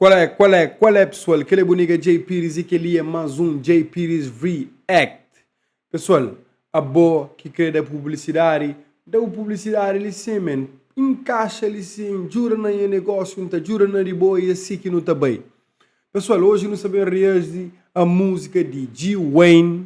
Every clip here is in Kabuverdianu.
Qual é qual é qual é pessoal kel é bu nigga Jay Pires e kel li é más um Jay Pires React pessoal abó ki kre da publicidade da bu publicidade li sim man encaixa li sim djuda na nha negócio n'ta djuda na di bo e é si ki nu ta bai pessoal hoje nu sta ben reazi a música di G-Wayne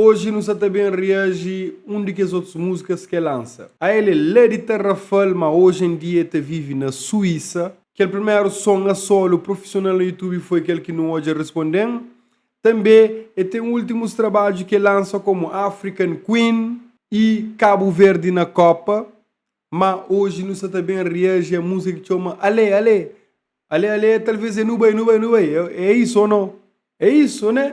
Oji nu sa ta ben reaji un di kes otus múzikas ki el lansa. A El é la di Tarrafal, má oji en dia el ta vive na Suísa. Kel primeru son a solu profisional na YouTube foi kel ki nu odja Responde-m. Tanbê el ten últimus trabadju ki el lansa komu African Queen i Kabu Verdi na Kópa. Má oji nu sa ta ben reaji a múzika ki txoma Alé, alé. Alé, alé, talvês é Nu bai, nu bai, nu bai. É isu ô nau? É isu, ô nê?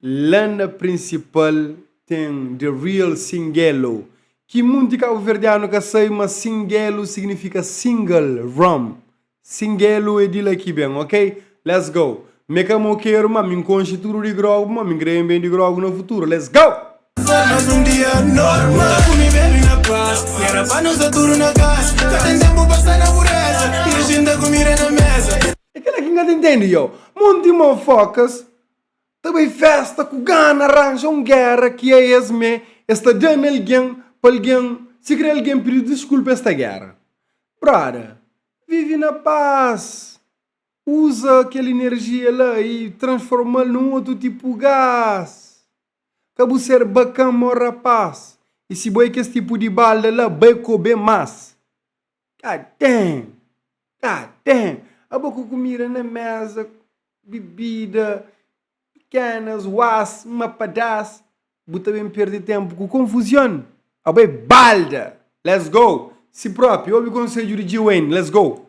La na prinsipal ten The Real Singelo, ki munti kabuverdianu ka sai, ma Singelo signifika single, rum. Singelo é di la ki ben, ok? Let's go! M'é ka mo keru, ma mi n'konxe tudu di grogu, ma mi n'kre ben ben di grogu na futuru. Let's go! Mas un dia normal N ta ku mi bebe i na pas I era pa nu sta tudu na kas Ka ten tenpu pa sta na pureza I nu jinta kumida na meza E kila ki N ka ta intendi yo Monti mofokas Ta bai festa ku gana ranja un gera ki a es me es ta da na algen pa algen sikrê algen pidi diskulpa es ta gera brother vivi na pas uza kel energia la i transformal nun otu tipu gas ka bu ser bakan mo rapaz i si bo é kes tipu di balda la bai kobe mas. Ka ten! Ka ten! Abo ku kumida na méza, bibida, pikénas, uás, mapadás, bu ta ben perde ténpu ku konfuzion? Abo é balda! Let's go! Si própi, obi konsedju di G-Wayne, let's go!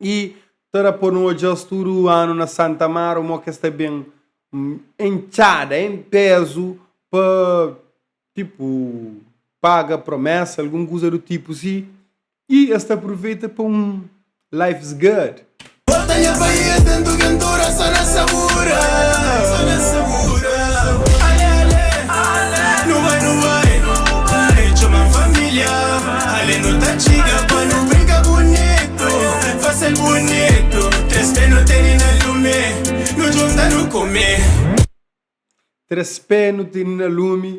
y ta da pa nu odja-s tudu anu na Santa Mara, un mô ki es ta ben en txada, en pézu pa tipu paga promésa, algun kuza du tipu si, y es ta pruveita pa un life's guard. Bota nha baía dentu kentura so na sabura so na sabura ale ale ale nu bai nu bai nu bai txoma familia. Ale nu ta txiga pa nu brinka bunitu Fasil bunitu Tres pé nu tene na lumi Nu djunta nu kume. Tres pé nu tene na lumi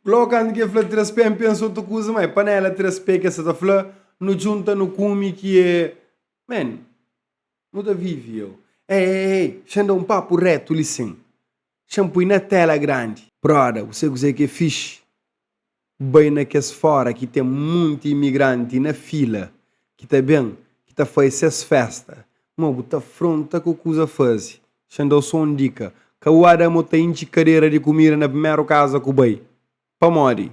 Lógu kantu ki el fla tres pé N pensa otu kuza ma é panela tres pé ki el sa ta fla Nu djunta nu kume ki é Man, nu ta vive eu Ei, ei, ei, xandau un papu retu li sin Txan pui na tela grandi. Broda ku se kuzé ki é fixi bai na kes fora ki ten monti imigranti na fila ki ta ben ki ta faze ses festa ma bu ta fronta ku kuza faze txan dau so un dika ka bu ba da mo ta intxi kadera di kumida na primeru kaza ku bai pamodi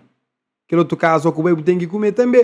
kel otu kaza ku bai bu ten ki kume tanbe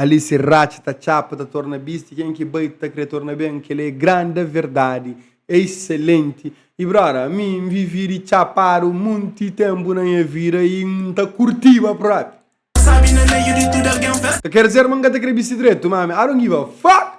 Ali si ratxa ta txapa ta torna bisti ken ki bai ta kre torna ben kel é granda verdadi é iselenti i brother ami n vivi di txapadu munti tenpu na nha vida i n ta kurtiba propi ka ker dizer ma n ka ta kre bisti dretu ma ami i don't give a fuck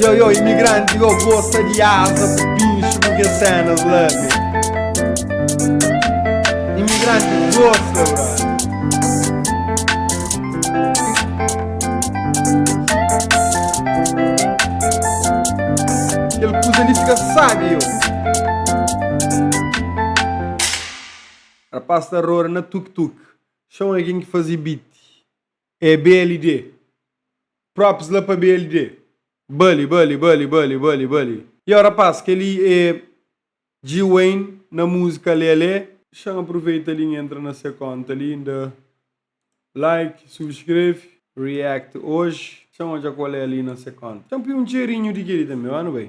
Yo, yo, imigranti, yo, gosta di asa, pinxu, ku kes senas la, be. Imigranti gosta, bra. Kel kuza li fika sabi, yo. Rapaz ta rora na tuk-tuk, xon algen ki faze beat. É BLD. Props la pa BLD. Bali, bali, bali, bali, bali, bali. Yow rapaz kel-li é G-Wayne na múzika Lelé. Xa N aproveita li N entra na se konta li N da like, subscreve. React oji xa N odja kol é li na se konta. Xa N pui un txerinhu di kel-li tanbe. Má nu bai.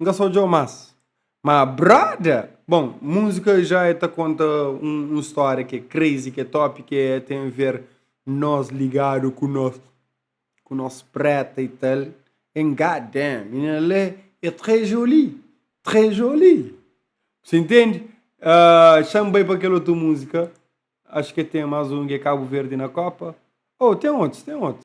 N ka sa odja-u más ma brother Bon, múzika ja é ta konta un stória ki é crazy, ki é top, ki é ten ver nos ligadu ku nos. ku nos preta y tal en god damn menina la é très jolie très jolie si intendi ahh xa n bai pa kel otu musika acho ke ten mas un ki é cabo verde na copa oh ten otus ten otus.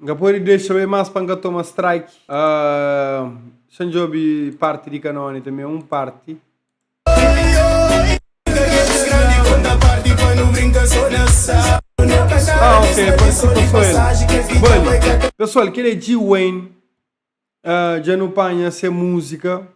N ka pode dexa be más pa N ka toma strike Xa N djobe parti di kanone tanbe un parti Ah ok parse pa so el Bali Pesoal kel é G-Wayne uh, dja nu panha se múzika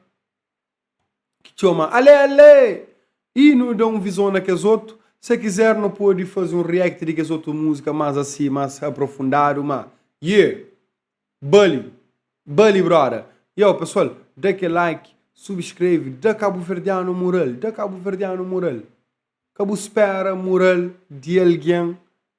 ki txoma Alé Alé i nu da un vizon na kes otu. Se kizer nu pode faze un react di kes otu múzika más asi, más aprofundadu, má yeah! Bali! Bali broda! Yo pesoal, da kel like, subskreve, da kabuverdianu mural, da kabuverdianu mural. Ka bu spera mural di algen